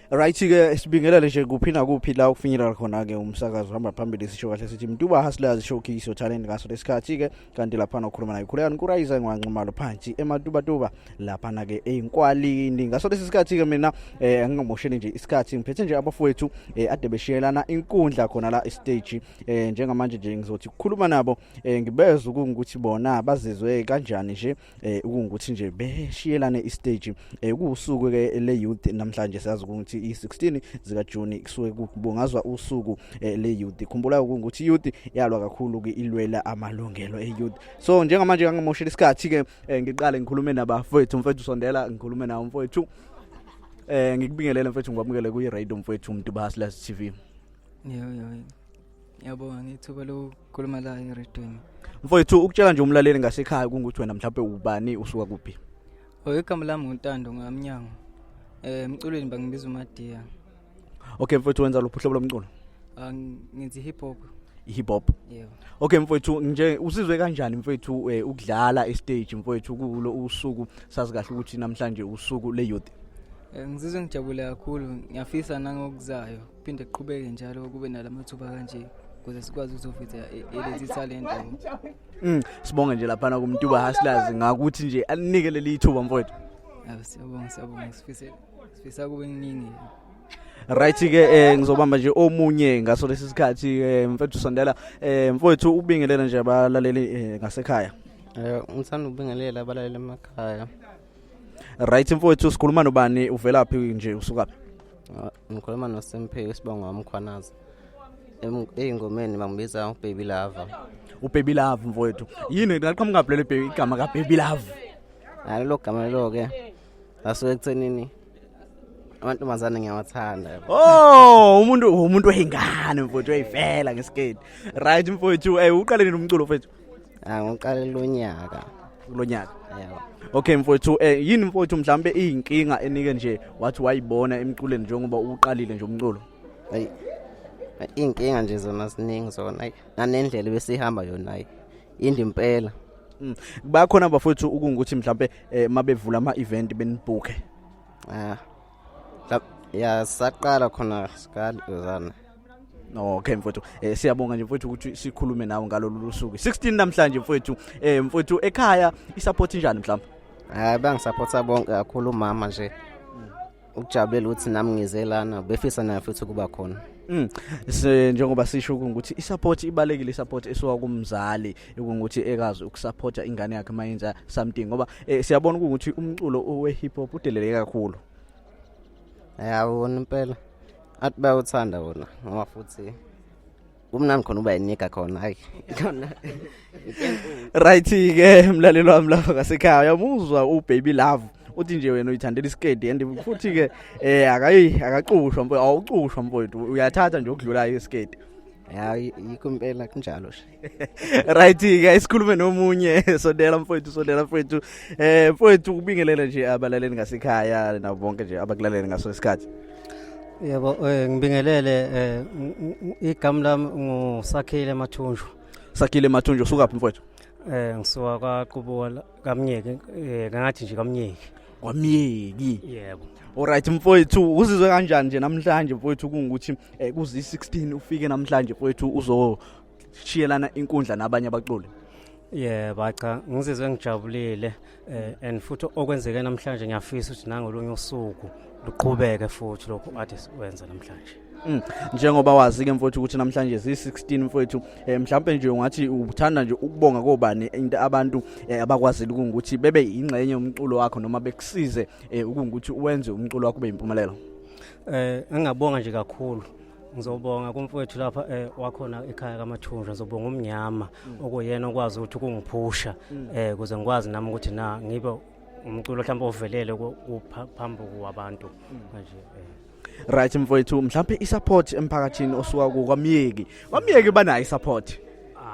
right ke sibingelele nje kuphi nakuphi la ukufinyelela khona ke umsakazo hamba phambili sisho kahle sithi mntuba hustlers showcase talent ngaso lesikhathi ke kanti lapha nokhuluma naye khulekani kurayisa ngwanxumalo phansi ematuba tuba lapha na ke einkwalini ngaso lesi sikhathi ke mina eh angingamosheli nje isikhathi ngiphethe nje abafowethu eh ade beshiyelana inkundla khona la stage eh njengamanje nje ngizothi ukukhuluma nabo eh ngibeza ukuthi bona bazizwe kanjani nje eh ukuthi nje beshiyelane istage eh kuusuku ke le youth namhlanje siyazi ukuthi i16 zika June kusuke kubungazwa usuku eh, le youth khumbula ukuthi youth yalwa kakhulu ke ilwela amalungelo e youth so njengamanje kangamoshela isikhathi ke eh, ngiqale ngikhulume nabafowethu mfethu sondela ngikhulume nawo mfowethu eh ngikubingelele mfethu ngikwamukele kuyi radio mfethu umuntu bahasla TV yo yo Ngiyabonga ngithuba lokukhuluma la eRedwing. Mfowethu ukutshela nje umlaleli ngasekhaya kungukuthi wena mhlawumbe ubani usuka kuphi? Oh igama lami nguNtando ngamnyango. Eh emculweni bangibiza uMadiya. Okay mfowethu wenza luphi uhlobo lomculo? Ah ngithi hip hop. hip hop yebo okay mfowethu nje usizwe kanjani mfowethu eh, ukudlala e stage mfowethu kulo usuku sazi kahle ukuthi namhlanje usuku le youth Eh, ngizizwe ngijabule kakhulu ngiyafisa nangokuzayo phinde kuqhubeke njalo kube nalamathuba kanje ukuze sikwazi ukuzoveza e- elezi talent mm sibonge nje lapha na kumtuba hustlers ngakuthi nje alinike leli ithuba mfowethu yabo siyabonga siyabonga sifise sifisa kube kuningi right ke eh ngizobamba nje omunye ngaso lesi sikhathi eh, mfethu sondela eh mfowethu ubingelela nje abalaleli eh, ngasekhaya eh ngithanda ubingelela abalaleli emakhaya right mfowethu sikhuluma nobani uvelaphi nje usukaphi ngikhuluma noSimphiwe isibongo wamkhwanaza eyingomeni bangibiza ubaby lava ubaby lava mfowethu yini laqhamuka lelo baby igama kababy lava hayi lo gama lelo ke asuke ekuthenini amantombazane ngiyawathanda oh umuntu umuntu oyingane mfowethu oyivela ngesiketi right mfowethu eh uqale nini umculo mfowethu Ah, ngiqalela unyaka kulo nyaka yebo okay mfowethu eh yini mfowethu mhlambe iyinkinga enike nje wathi wayibona emculweni njengoba uqalile nje umculo ayi inkinga nje zona siningi zona ayi nanendlela besihamba yona ayi indi impela Mm. bakhona bafowethu ukungukuthi mhlambe eh, mabevula ama event benibhuke ah ya saqala khona sikali uzana okay mfowethu eh, siyabonga nje mfowethu ukuthi sikhulume nawe ngalolu lusuku 16 namhlanje mfowethu eh mfowethu ekhaya isupport njani mhlawumbe hayi bangisupporta bonke kakhulu umama nje ukujabulela ukuthi nami ngize lana befisa naye futhi ukuba khona Mm. Se njengoba sisho ukuthi isupport ibalekile isupport esiwa kumzali ukuthi ekazi ukusupporta ingane yakhe mayenza something ngoba eh, siyabona ukuthi umculo we hip hop udeleleke kakhulu yabona impela athi bayawuthanda wona ngoba futhi kumnandi khona uba yinika khona hayi khona right ke mlalelo wami lapha ngasekhaya uyamuzwa ubaby love uthi nje wena uyithandela isikedi and futhi ke eh akayi akacushwa mfowethu awucushwa mfowethu uyathatha nje ukudlula isikedi ya yikho impela kunjalo nje right ke isikhulume nomunye sondela mfowethu sondela mfowethu eh mfowethu kubingelela nje abalaleli ngasekhaya nabo bonke nje abakulalela ngaso isikhathi yebo eh, ngibingelele eh, igama lami ngusakhile mathunjwa sakhile mathunjwa usukaphi mfowethu eh ngisuka kwaqubuka kamnyeke eh ngathi nje kamnyeke kwamyeki yebo Alright mfowethu uzizwe kanjani nje namhlanje mfowethu kungukuthi eh, kuzi 16 ufike namhlanje mfowethu uzo shiyelana inkundla nabanye abaculi Yeah bacha ngizizwe ngijabulile eh, and futhi okwenzeke namhlanje ngiyafisa ukuthi nangolunye usuku luqhubeke futhi lokho ade sikwenza namhlanje Mm. Njengoba wazi ke mfowethu ukuthi namhlanje si16 mfowethu eh, mhlawumbe nje ungathi uthanda nje ukubonga kobani into abantu eh, abakwazile ukuthi bebe ingxenye umculo wakho noma bekusize eh, ukuthi uwenze umculo wakho ube impumelelo. Eh ngingabonga nje kakhulu ngizobonga kumfowethu lapha eh, wakhona ekhaya kamathunjwa ngizobonga umnyama mm. okuyena okwazi ukuthi kungiphusha mm. eh kuze ngikwazi nami ukuthi na ngibe umculo mhlawumbe ovelele phambi kwabantu mm. manje eh right mfowethu mhlawumbe isupport emphakathini osuka ku kwamyeki kwamyeki banayo isupport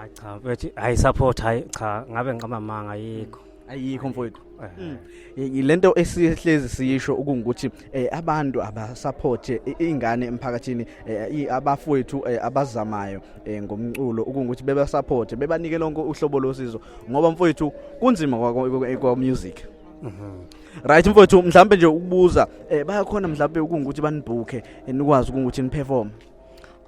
hayi cha bethi hayi support hayi cha ngabe ngiqamba manga yikho ayikho mfowethu mm. lento esihlezi siyisho ukuthi eh, abantu abasupport eh, ingane emphakathini eh, abafowethu abazamayo ngomculo ukuthi beba support bebanike lonke uhlobo losizo ngoba mfowethu kunzima kwa music mhm. right mfowethu mhlawumbe nje ukubuza bayakhona mhlawumbe ukuthi banibhukhe nikwazi ukuthi niperform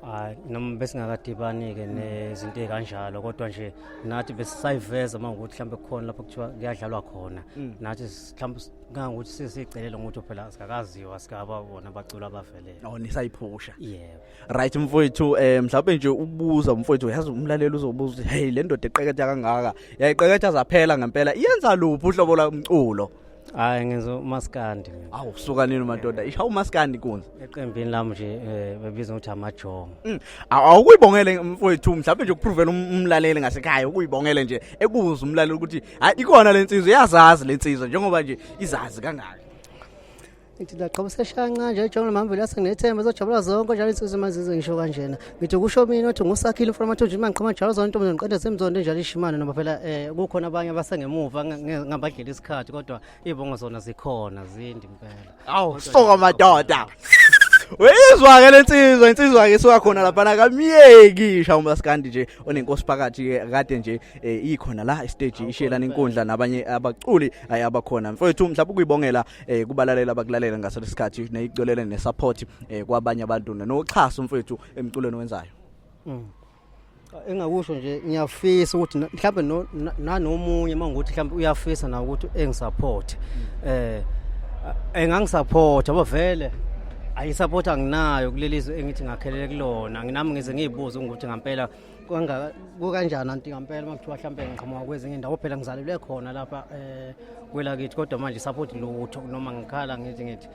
hayi noma besingakadibani-ke nezinto ey'kanjalo kodwa nje nathi besisayiveza uma ngokuthi mhlawumbe kukhona lapho kuthiwa kuyadlalwa khona mm. nathi mhlawumbe kangokuthi sesiyicelela ngokuthi phela sikakaziwa sikaba bona bacula abavelele oh nisayiphusha yebo right mfowethu um mhlawumbe nje ukubuza umfowethu yazi umlaleli uzobuza ukuthi heyi le ndoda eqeketha kangaka yayiqeketha zaphela ngempela iyenza luphi uhlobo lomculo hayi ngenza umaskandi mina awu kusuka nini madoda isha umaskandi kunza eqembini lami nje eh, bebiza ukuthi amajongo Mm. Aw- awukuyibongele mfowethu mhlawumbe nje ukupruvela um- umlaleli ngasekhaya ukuyibongele nje ekuza umlaleli ukuthi hayi ikhona le nsizwa iyazazi le nsizwa njengoba nje izazi kangaka ngithi ndaqoba seshanca nje ejola mamveli yase nginethemba ezojabula zonke njalo insizwa imazizo ngisho kanjena ngithi kusho mina ukuthi ngusakhile umfana amathunji imani qhoma njalo zonke intombi ngiqeda semzondo enjalo ishimane noma phela eh kukhona abanye abasengemuva ngabadlela isikhathi kodwa ibongo zona zikhona zindi impela awu soka madoda uyizwa ke lensizwa insizwa ke suka khona lapha nakamyeki isha umaskandi nje onenkosi phakathi ke kade nje eh, ikhona la stage ishela nenkundla nabanye abaculi abakhona mfowethu mhlawumbe ukuyibongela eh kubalalela abakulalela ngaso lesikhathi neyicolele ne support eh kwabanye abantu noxhaso mfethu emculweni wenzayo mm. engakusho nje ngiyafisa ukuthi mhlawumbe nanomunye mangokuthi mhlawumbe uyafisa na ukuthi engisupport mm. eh engangisupporta ngoba vele ayisupport anginayo kuleli zwe engithi ngakhelele kulona nginami ngize ngiyibuze ukuthi ngampela kukanjani anti ngampela uma kuthiwa hlampe ngiqhamuka kwezinye indawo phela ngizalelwe khona lapha um kwelakithi kodwa manje support lutho noma ngikhala ngithi ngithi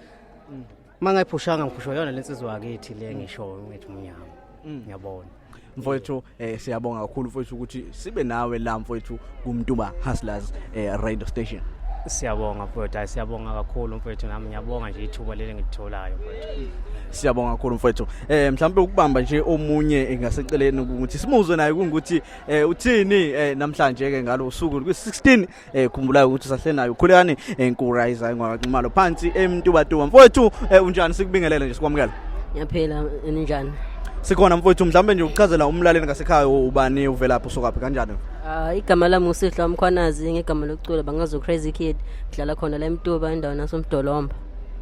mm. uma ngayiphushanga ngiphushwa yona le nsizwa yakithi le mm. ngishoyo ngithi umnyama mm. ngiyabona mfowethu um siyabonga kakhulu mfowethu ukuthi sibe nawe la mfowethu kumtuba hustlers eh, radio station siyabonga mfowethu hayi siyabonga kakhulu mfowethu nami ngiyabonga nje ithuba leli ngilitholayo mfowethu siyabonga kakhulu mfowethu eh mhlawumbe ukubamba nje omunye engaseceleni ukuthi simuzwe naye kungukuthi eh uthini eh namhlanje ke ngalo usuku kwi16 eh khumbulayo ukuthi usahle nayo khulekani enkurayiza eh, ngwaximalo phansi emntubatuba mfowethu eh, unjani sikubingelele nje sikwamukela ngiyaphila ninjani sikhona mfowethu mhlawumbe nje ukuchazela umlaleli ngasekhaya ubani uvelaphi usukaphi kanjani Uh, igama lami uSihla Mkhwanazi ngegama lokucula bangazo Crazy Kid ngidlala khona la eMtuba endaweni nasoMdolomba.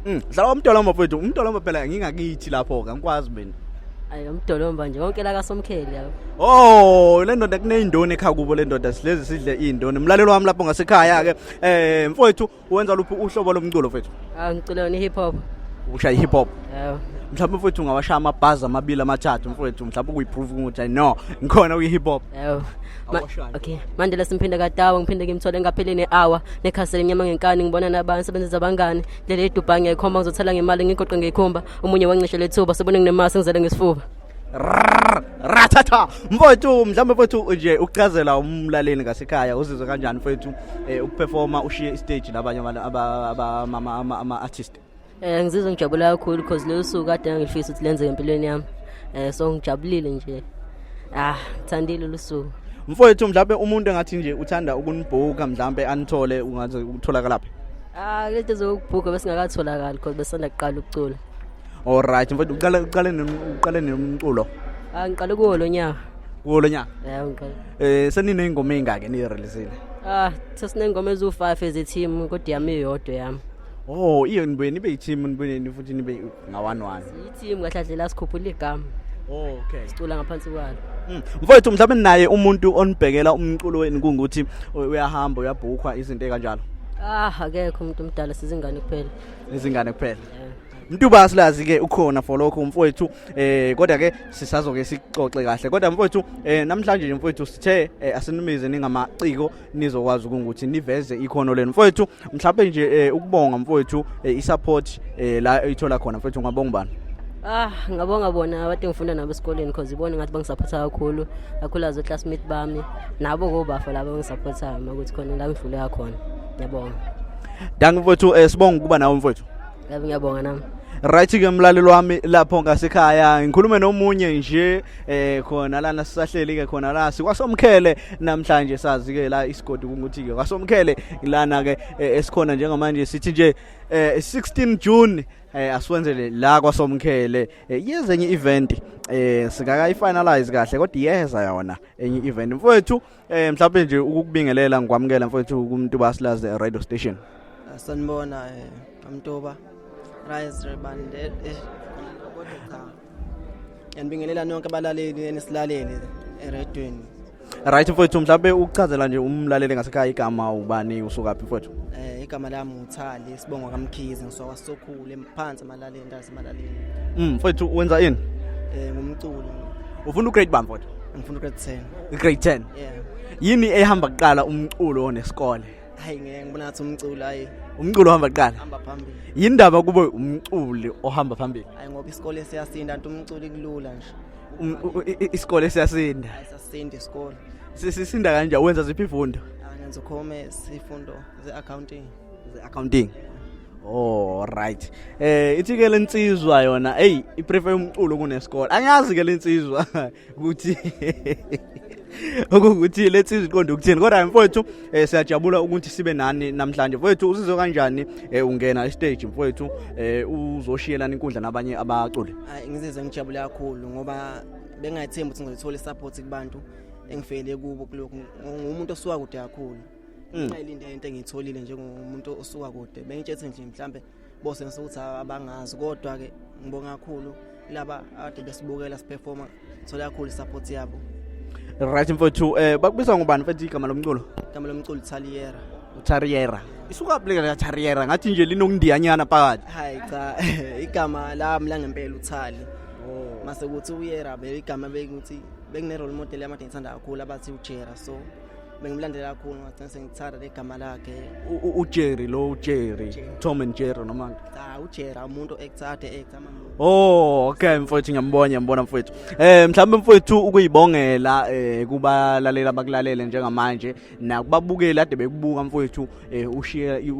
Mm, dlala uMdolomba mfowethu, uMdolomba phela ngingakithi lapho ke ngikwazi mina. Ayi uMdolomba nje wonke la kaSomkheli yabo. Oh, le ndoda kuneyindoni ekhakubo le ndoda silezi sidle indoni. Umlalelo wami lapho ngasekhaya ke eh mfowethu Wenza luphi uhlobo lomculo mfethu? Ah ngicula wena hip hop. Ushaya hip hop. Yebo. Mhlawumbe mfethu ungawashaya amabhazi amabili amathathu mfethu mhlawumbe ukuyiprove ukuthi I know ngikhona kwi hip hop. Yebo. Ma- Awashaya. Okay. Manje la simphinde kadawa ngiphinde ngimthole ngaphele ne-hour nekhasele nyama ngenkani ngibona nabantu sebenzisa abangani ndlela edubhange ekhomba ngizothela ngemali ngigoqe ngekhumba omunye wancishe lethuba sebone nginemasi ngizele ngesifuba ratata mfowethu mhlawumbe mfowethu nje ukuchazela umlaleli ngasekhaya uzizwe kanjani mfowethu eh, ukuperforma ushiye istage labanye ama-artist um ngizizwe ngijabule kakhulu because lolu suku kade ngangilifisa ukuthi lenzeke empilweni yami um so ngijabulile nje ah ngithandile olu suku mfowethu mhlawumbe umuntu engathi nje uthanda ukunibhuka mhlawumbe anithole ungaze utholakalaphi ah lento zokubhuka besingakatholakali because besanda kuqala ukucula Alright, mfowethu uqale uqale nen- uqale nomculo. Ah ngiqale kuwo lo nyaka. Kuwo lo nyaka. Yeah ngiqale. Eh senine ingoma engake ni release. Ah sesinengoma ezu5 eze team kodwa yami iyodwa yami. Oh, iyo nibuye nibe i-team nibuye ni- futhi nibe ngawani wani. I-team kahlahlela sikhuphula igama. Oh, okay. Sicula ngaphansi kwalo. Mm. Mfowethu mhlawumbe naye umuntu onibhekela umculo wenu kungukuthi u- uyahamba uyabhukwa izinto ekanjalo. Ah akekho umuntu omdala sizingane kuphela. Izingane kuphela. Yeah. Mtuba silazi ke ukhona for lokho mfowethu eh kodwa ke sisazoke sixoxe kahle kodwa mfowethu eh namhlanje nje mfowethu sithe eh, asinumize ningamaciko nizokwazi ukuthi niveze ikhono lenu mfowethu mhlawumbe nje eh, ukubonga mfowethu eh, isupport eh, la ithola khona mfowethu ngabonga ubani Ah ngabonga bona abantu engifunda nabo esikoleni because ibona ngathi bangisupporta kakhulu kakhulu azo classmate bami nabo kobafo labo engisupportayo makuthi khona la ngidlule kakhona ngiyabonga Danke mfowethu eh, sibonga ukuba nawe mfowethu Yebo ngiyabonga nami. Right ke mlalelo wami lapho ngasekhaya ngikhulume nomunye nje eh khona lana sisahleli ke khona la sikwasomkhele namhlanje sazi ke la isigodi ukuthi ke kwasomkhele lana ke eh, esikhona njengamanje sithi nje 16 eh, June eh asiwenzele la kwasomkhele eh, yezenye event eh singakayi finalize kahle kodwa iyeza yona enye event mfowethu Eh mhlawumbe nje ukukubingelela ngikwamukela mfowethu kumuntu basilaze radio station. Sanibona eh amtoba. Rise Rebande. Eh, eh, kodwa cha. Ngiyanibingelela nonke abalaleli enisilalele eredweni. Right mfowethu mhlawumbe ukuchazela nje umlaleli ngasekhaya igama ubani usukaphi mfowethu? Eh igama lami uThali sibongo kaMkhize ngisokwasokhulu emphansi Malali indawo seMalali. Mm, mfowethu wenza ini? Eh ngumculo. Ufuna ugrade bani mfowethu? Ngifuna ugrade 10. Ugrade 10. Yeah. Yini ehamba kuqala umculo nesikole? Hayi ngeke ngibona ngathi umculo hayi. Umculo ohamba kuqala. Hamba phambili. Yindaba kube umculi ohamba phambili. Hayi ngoba isikole siyasinda nto umculi kulula nje. Um, isikole siyasinda. Hayi sasinda isikole. Sisinda kanjani wenza ziphi ifundo? Angenza commerce ifundo ze accounting. accounting Oh right. Eh ithi ke lensizwa yona hey iprefer umculo kunesikole. Angiyazi ke lensizwa ukuthi ukuthi lethi iziqonde ukuthini kodwa mfowethu eh, siyajabula ukuthi sibe nani namhlanje mfowethu usizwe kanjani eh, ungena estage mfowethu eh, uzoshiyelana inkundla nabanye abaculi hayi ngizizwe ngijabule kakhulu ngoba bengathembi ukuthi ngizothola support kubantu engifele kubo kulokhu ngumuntu osuka kude kakhulu ngayilinde mm. into engiyitholile njengomuntu osuka kude bengitshethe nje mhlambe bose ngisukuthi abangazi kodwa ke ngibonga kakhulu laba ade besibukela siperforma thola kakhulu support yabo right mfowethu eh bakubiza ngubani mfethu igama lomculo igama lomculo Taliera Tariera isuka pleka la Tariera ngathi nje linokundiyanyana phakathi hayi cha igama lami la ngempela uthali oh. mase kuthi uyera be igama bekuthi bekune role model yamadini ngithanda kakhulu abathi ujera so bengimlandela kakhulu ngagcina sengithanda legama lakhe ujerry lo ujerry tom and jerry noma cha ujerry umuntu ekuthade ekutama Oh okay mfowethu ngiyambona ngiyambona mfowethu. Eh mhlawumbe mfowethu ukuyibongela eh kubalalela abakulalele njengamanje nakubabukeli ade bekubuka mfowethu eh ushiye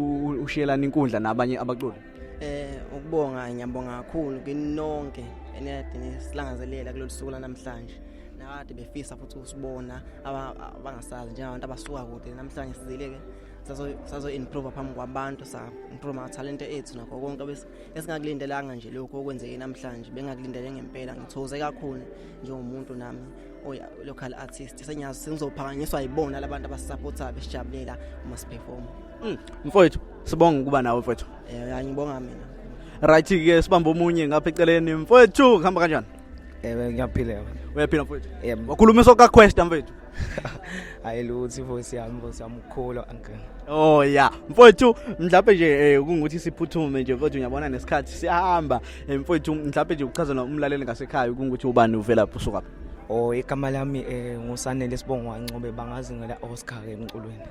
ushiyelana inkundla nabanye abaculi. Eh ukubonga ngiyabonga kakhulu kinonke eniyadini silangazelela kulolu suku lanamhlanje nakade befisa futhi usibona abangasazi njengabantu abasuka kude namhlanje sizileke sazoimprova phambi kwabantu sa-improva mathalente ethu nakho konke esingakulindelanga nje lokhu okwenzeke namhlanje bengakulindele ngempela ngithokoze kakhulu njengomuntu nami oya oh local artist senyazi sengizophakanyiswa yibona labantu abasisupportayo besijabulela uma siperform mm. mfowethu sibonga ukuba nawe mfowethu eh yeah, ngibonga mina right ke sibamba omunye ngapha eceleni mfowethu kuhamba kanjani ewe ngiyaphila uyaphila mfowethu yebo wakhuluma soka quest mfowethu hayi luthi voice yami voice yami ukhulu uncle oh yeah mfowethu mhlawumbe nje eh, kungukuthi siphuthume nje kodwa uyabona nesikhathi siyahamba Eh, mfowethu mhlawumbe nje ukuchazela umlaleli ngasekhaya ukuthi ubani uvela phi usukaphi o igama lami eh ngusanele sibongo wancobe bangazi ngela Oscar ke emculweni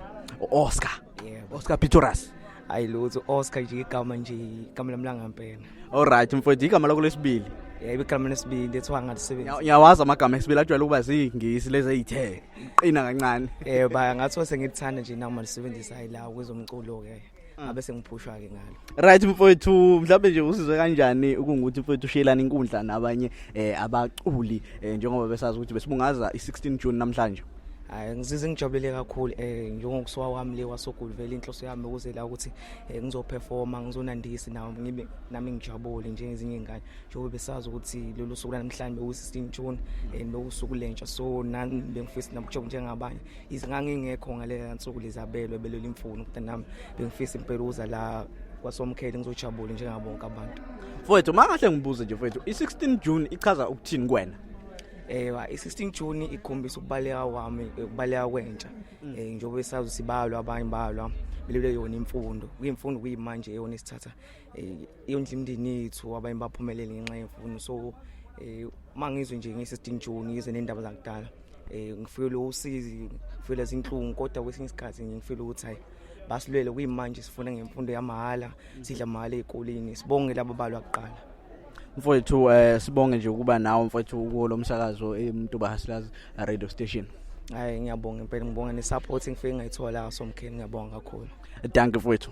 Oscar yebo Oscar Pitoras hayi lutho Oscar nje igama nje igama lami langampela all right mfowethu igama lakho lesibili yebo igama lesibili ethiwa ngalisebenza ngiyawazi amagama esibili ajwayele ukuba zingisi lezi ezithe qina kancane eh ba ngathi sengithi thanda nje nawo malisebenzisa hayi la kwezomculo ke ngabe sengiphushwa ke ngalo right mfowethu mhlawumbe nje usizwe kanjani ukungukuthi mfowethu ushiyelana inkundla nabanye eh abaculi eh, njengoba besazi ukuthi besibungaza i16 June namhlanje hayi ngizize ngijabulele kakhulu eh njengokusuka kwami le wasogulu vele inhloso yami ukuze la ukuthi eh, ngizoperforma ngizonandisi nawo ngibe nami ngijabule njengezinye ingane njengoba besazi ukuthi lolu suku lanamhlanje uwu16 June eh nokusuku lentsha so nami bengifisa nabujabule njengabanye izingangingekho ngaleya nsuku lizabelwe beleli mfuno ukuthi nami bengifisa impela uza la kwasomkhele ngizojabule njengabo bonke abantu mfowethu makahle ngibuze nje mfowethu i-16 June ichaza ukuthini kuwena ewa i-16 June ikhombisa ukubaleka kwami ukubaleka kwentsha mm. eh njengoba esazi sibalwa abanye balwa belule yona imfundo kuyimfundo kuyimanje eyona isithatha eh, yondla imndeni yethu abanye baphumelele ngenxa yemfundo so um eh, uma ngizwe nje ngisesidingi joni ngizwe nendaba zakudala um ngifuyele usizi ngifuyele zinhlungu kodwa kwesinye isikhathi ngifuyele ukuthi hayi basilwele kuyimanje sifuna ngemfundo yamahhala sidla mahhala ey'koleni sibonge laba balwa kuqala mfowethu um eh, sibonge nje ukuba nawo mfowethu kulo msakazo emtuba hasilaz radio station hayi ngiyabonga impela ngibonga ne-support engifike ngayithola somkheni ngiyabonga kakhulu danke mfowethu